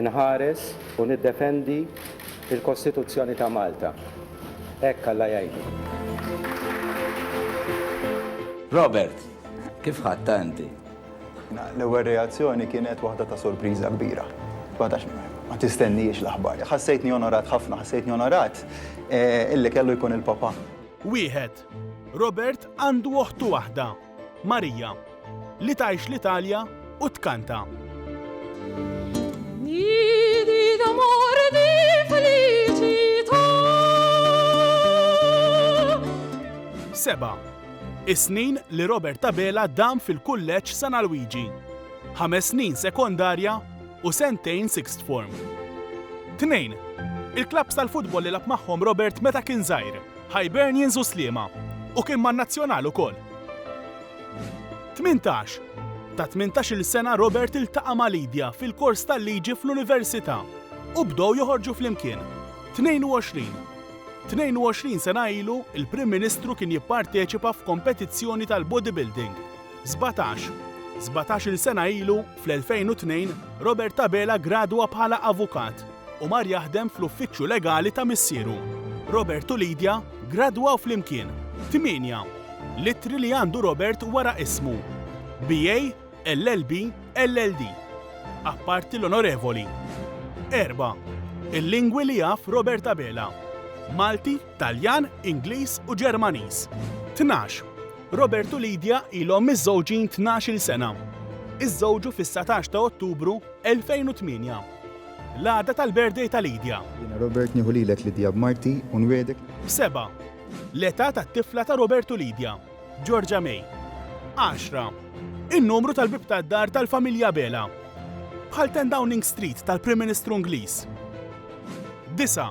Inħares u niddefendi l-Kostituzzjoni ta' Malta. Hekk Alla jgħinni. Robert, kif ħadtha inti? L-ewwel reazzjoni kienet waħda ta' sorpriża kbira. Ma tax, ma tistennihiex l-aħbar. Ħassejtni onorat ħafna, ħassejtni onorat illi kellu jkun il-Papa. Wieħed. Robert għandu oħtu waħda. Marija, li tgħix l-Italja u tkanta. Nidi d'amor di felicità. Seba. Is-snin li Robert Tabela dam fil-kulleġġ San Alwiġi. Ħames snin sekondarja u sentejn sixth form. Tnejn. Il-klabbs tal-futbol li lab magħhom Robert meta kien żgħir. Hibernians u Sliema, u kien man-Nazzjonal ukoll. 18, Ta' tmintax-il sena Robert iltaqa' ma' Lydia fil-kors tal-liġi fl-università u bdew joħorġu flimkien. 22, 22 sena ilu, il-Prim Ministru kien jipparteċipa f'kompetizzjoni tal-bodybuilding. 17, 17-il sena ilu, Fl-2002, Robert Abela ggradwa bħala avukat u mar jaħdem fl-uffiċċju legali ta' missieru. Robert u Lydia ggradwaw flimkien f'tmienja l-ittri li għandu Robert wara ismu, BA, LLB, LLD, apparti l-Onorevoli. Erba', Il-lingwi li jaf Robert Abela, Malti, Taljan, Ingliż u Ġermaniż. Tnax, Robert u Lydia ilhom miżżewġin tnax-il sena. Iżżewġu fis-satax ta' Ottubru 2008. L-għada tal-birthday ta' Lydia. Jiena Robert nieħu lilek Lydia b'marti u nwiegħdek. Seba', L-età tat-tifla ta' Robert u Lydia. Georgia May. Għaxra, In-numru tal-bieb tad-dar tal-familja Abela. Bħal Ten Downing Street tal-Prim Ministru Ingliż. Disa',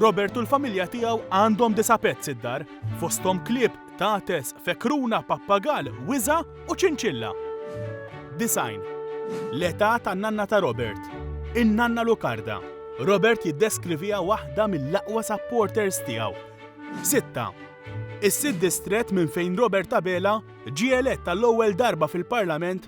Robert u l-familja tiegħu għandhom disa' pets id-dar, fosthom klieb, qtates, fekruna, pappagall, wiża' u ċinċilla. 90. L-età tan-nanna ta' Robert. In-nanna Lucarda. Robert jiddeskriviha waħda mill-aqwa supporters tiegħu. 6. Is-sitt distrett minn fejn Robert Abela ġie elett għall-ewwel darba fil-Parlament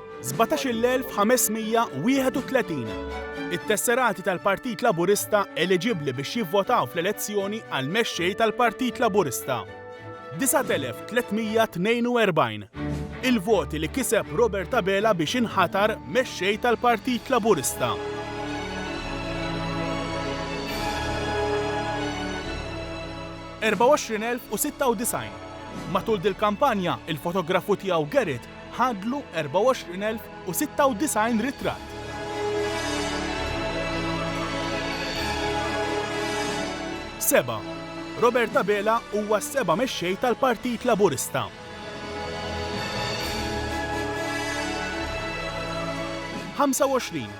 17,531 It-tesserati tal-Partit Laburista eliġibbli biex jivvotaw fl-elezzjoni għal Mexxej tal-Partit Laburista 9,342 Il-voti li kiseb Robert Abela biex inħatar Mexxej tal-Partit Laburista 24,096 Matul dil-kampanja, il-fotografu tiegħu Gerrit Ħadlu 24,096 ritratt. Seba', Robert Abela huwa s-seba' mexxej tal-Partit Laburista. Ħamsa u għoxrin,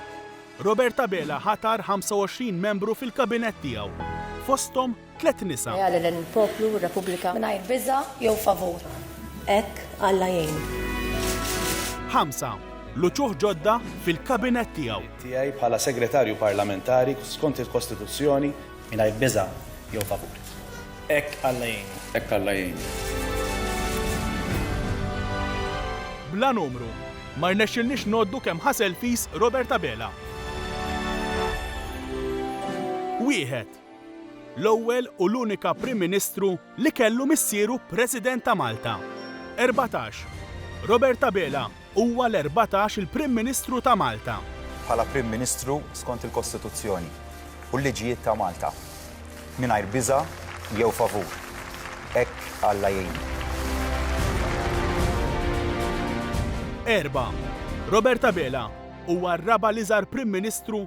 Robert Abela ħatar 25 membru fil-Kabinett tiegħu, fosthom tliet nisa. Leali lejn il-poplu u r-Repubblika. Mingħajr biża' jew favur. Hekk Alla jgħinu. Ħamsa, l-uċuħ ġodda fil-Kabinett tiegħu. Tiegħi bħala Segretarju Parlamentari skont il-Kostituzzjoni. Mingħajr biża' jew favur. Hekk Alla jgħinu. Hekk Alla jgħinu. Bla numru. Ma rnexxilniex ngħoddu kemm ħa selfies Robert Abela. Wieħed. L-ewwel u l-unika Prim Ministru li kellu missieru President ta' Malta. 14. Robert Abela huwa l-erbatax il Prim Ministru ta' Malta. Bħala Prim Ministru skont il-Kostituzzjoni u l-liġijiet ta' Malta. Mingħajr biża' jew favur. Hekk Alla jgħinu. 4. Robert Abela huwa r-raba' l-iżgħar Prim Ministru